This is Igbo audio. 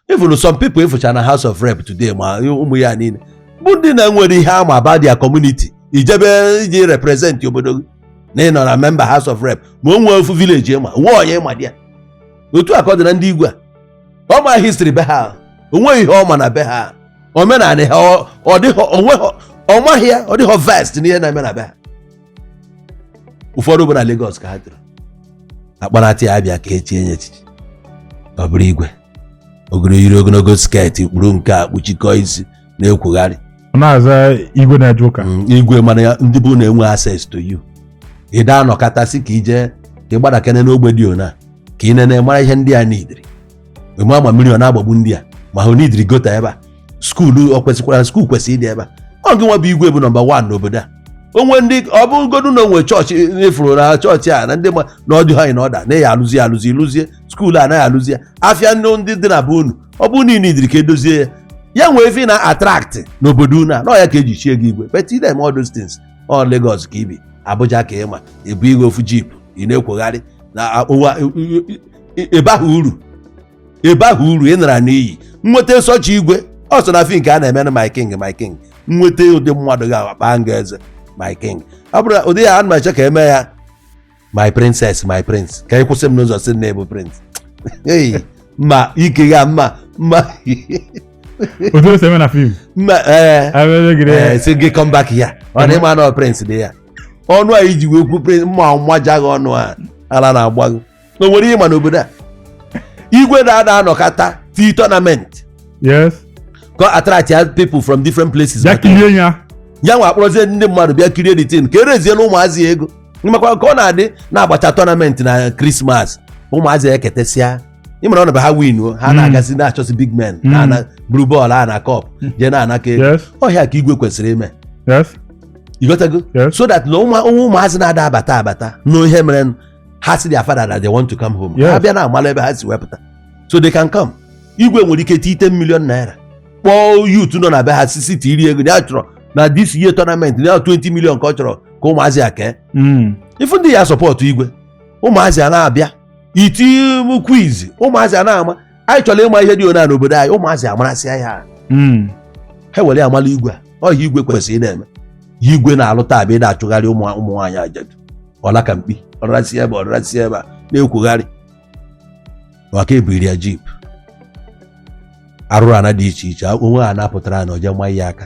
even some people ị fụcha na house of rep today ma ụmụ ya niile bụ ndị na-enwerọ ihe ha ma about their community i jebe ije represent obodo gị na ị nọ na member house of rep ma o nwee ofu village ị ma nwee onye ị ma dị ya otu a ka ọ dị na ndị igwe a ọ ma history be ha o nweghị ihe ọ ma na be ha omenala ha ọ- ọ dịghọ- o nweghọ- ọ maghị ya ọ dịghọ vast n'ihe na-eme na be ha ụfọdụ bụ na Lagos ka ha toro a kpọrọta ya abịa ka e chie nye echichi ọ bụrụ igwe o goro yiri ogologo sket kpuru nke a kpuchikọ isi na-ekwugharị ọ na-aza igwe na-eje ụka Mm, igwe mana ya ndị bụ na-enwe access to you ị da anọkatasị ka i je ka ị gbadakene n'ogbe dị ona ka ị nene mara ihe ndị a needịrị ị ma ma mmiri ọ na-agbagbu ndị a ma ha needịrị gutter ebe a skuulu ọ kwesịkwara skuul kwesịrị ịdị ebe a ọ gị nwa bụ igwe bụ nọmba wan n'obodo a o nwe ndị ọ bụ godu na o nwe chọọchị ị fụrụ na chọọchị a na ndị ma na ọ dị ha na ọda na ya alụzi ya alụzi lụzie skuul a naghị alụzi ya afịa ndị ndị dị na be unu ọ bụ na needịrị ka e dozie ya ya nwee ife na-attract n'obodo unu a na ọ ya ka e ji chie gị igwe but ị da-eme all those things ọ Lagos ka i bi Abuja ka ị ma ị bụ igwe ofu jeep ị na-ekwogharị na ụwa ị baghị uru ị baghị uru ị nara n'iyi nweta such igwe ọ sọ na fim ka a na-eme na my king my king nweta ụdị mmadụ ga-akpọ gị eze my king ọ bụrụ na ụdị ya ana m eche ka e mee ya my princess my prince ka ị kwụsị m n'ụzọ sị na ị bụ prince Hey, mma ike ya mma mma otu o si eme na fim mma ee abịagide a sị gị come back ya ọ na ị ma na ọ prince dị ya ọnụ a i ji wee kwuo prince mma mmaja gị ọnụ a ala na-agba gị o nwere ị ma n'obodo a igwe na-ada anọkata tii tournament yes ka attract ya people from different places bịa kirie ya ya nwa akpọrọzie ndị mmadụ bịa kirie the thing ka ereziela ụmụazị ego makwa ka ọ na-adị na a gbachaa tournament na krismas ụmụazị eketesịa ị mara ọ na ha win o ha hmm. na-agazi na-achọsi big men hmm. na-ana buru bọọlụ a na cup hmm. jee na-anakọ ego ọ ihe a ka igwe kwesịrị ime ị ghọtago so that na ụmụazị na-ada abata abata na ihe mere ha sị their father that they want to come home Yes. ha bịa na-amala ebe ha si wee pụta so they can come igwe nwere ike tii 10 million naira kpọọ youth nọ na be ha sisi tiri ego ya chọrọ na this year tournament na 20 million ka ọ chọrọ ka ụmụazị ya kee Mm. ị fụ ndị ya support igwe ụmụazị a na-abịa e tii quiz ụmụazị a na-ama anyị chọrọ ịma ihe dị ona n'obodo anyị ụmụazị amarasịa ya ahụ. Mm. ha were amala igwe a ọ ihe igwe kwesịrị ị na-eme ihe igwe na-alụ taa bụ ị na-achụgharị ụmụ ụmụ nwaanyị ajadu ọla ka mkpi ọ rasịa ebe a ọ rasịa ebe a na-ekwugharị maka ebiri ya jeep arụrụ ana dị iche iche o nwe ha na-apụtara na o ji nwa ya aka